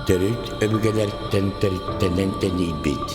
Төрүт өбүгэлэртэн төрүттэнэн тэнийбит,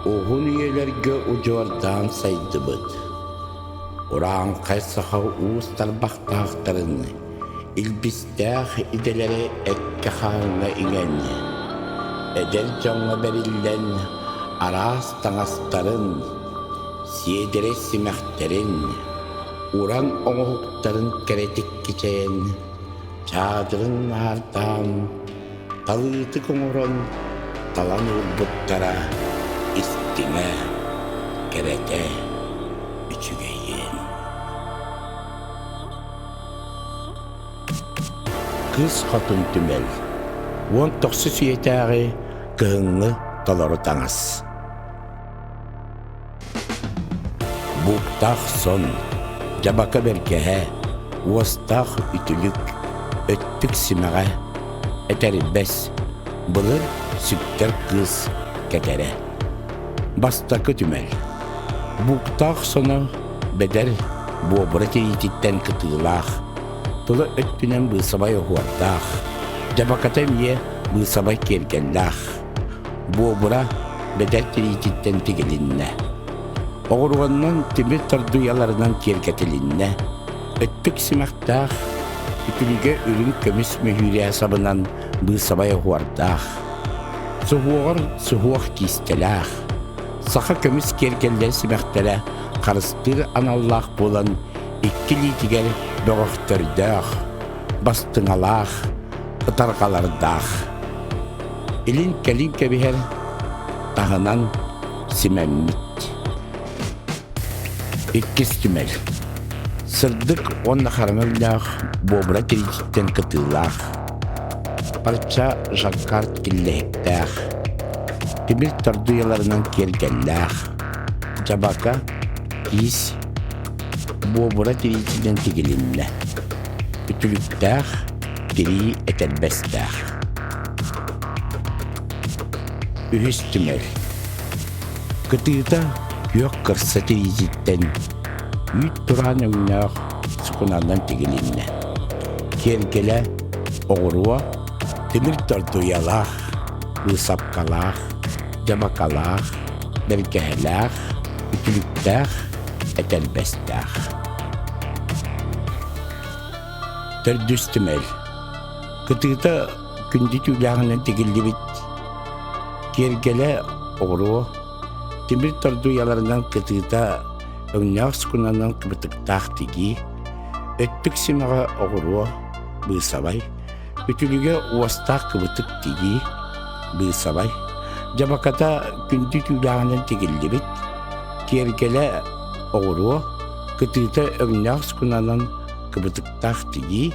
уһун үйэлэргэ удьуордаан сайдыбыт, урааҥхай саха уус тарбахтаахтарын, илбис Эдэрдээх идэлэри эккэ-хааҥҥа иҥэн, эдэр дьоҥҥо бэриллэн араас таҥастарын, сиэдэрэй симэхтэрин, уран оҥоһуктарын кэрэтик кичэйэн, чаадырын наардаан, талыытык оҥорон талан ылбыттара истиҥэ, кэрэтэ, үчүгэйиэн. Кыыс Хотун түмэл уон тохсус үйэтээҕи кыһыҥҥы толору таҥас Бууктаах сон, дьабака бэргэһэ, уостаах үтүлүк, өттүк симэҕэ, этэрбэс, былыр сүктэр кыыс кэтэрэ. Бастакы түмэл Бууктаах соно Бэдэр буобура тириититтэн кытыылаах, тыла өттүнэн быысабай оһуордаах, дьабаката эмиэ быысабай киэргэллээх. Буобура бэдэр тириититтэн тигилиннэ. Оҕуруоннан тимир тардыйаларынан киэргэтилиннэ. Өттүк симэхтээх, итиригэ үрүҥ көмүс мөһүүрэ сабынан быысабай оһуордаах. Суһуоҕар суһуох киистэлээх, саха көмүс киэргэллэрэ сибэхтэрэ харыстыыр аналлаах буолан икки илиитигэр бөҕөхтөрдөөх, бастыҥалаах, ытарҕалардаах. Илин-кэлин кэбиһэр, таһынан симэммит. Иккис түмэл. Сырдык уонна хараҥа өйдөөх буобура тириититтэн кытыылаах. Парча жаккард киллэһиктээх. Тимир тардыйаларынан киэргэллээх. Дьабака иис буобура тириитинэн тигилиннэ. Үтүлүктээх тирии этэрбэстээх. Үһүс түмэл. Кытыыта күөх кырса тириититтэн үүт тураан өҥнөөх сукунанан тигилиннэ. Киэргэлэ, оҕуруо, тимир тордуйалаах, ыысапкалаах, дьабакалаах, бэргэһэлээх, үтүлүктээх, этэрбэстээх. Төрдүс түмэл. Кытыыта Күндү түүлээҕинэн тигиллибит киэргэлэ оҕуруо тимир тордуйаларынан кытыыта өҥнөөх скунанан кыбытыктаах тигии өттүк симэҕэ оҕуруо быысабай үтүлүгэ уостаах кыбытык тигии быысабай дьабаката күндү түүлээҕинэн тигиллибит киэргэлэ оҕуруо кытыыта өҥнөөх скунанан кыбытыктаах тигии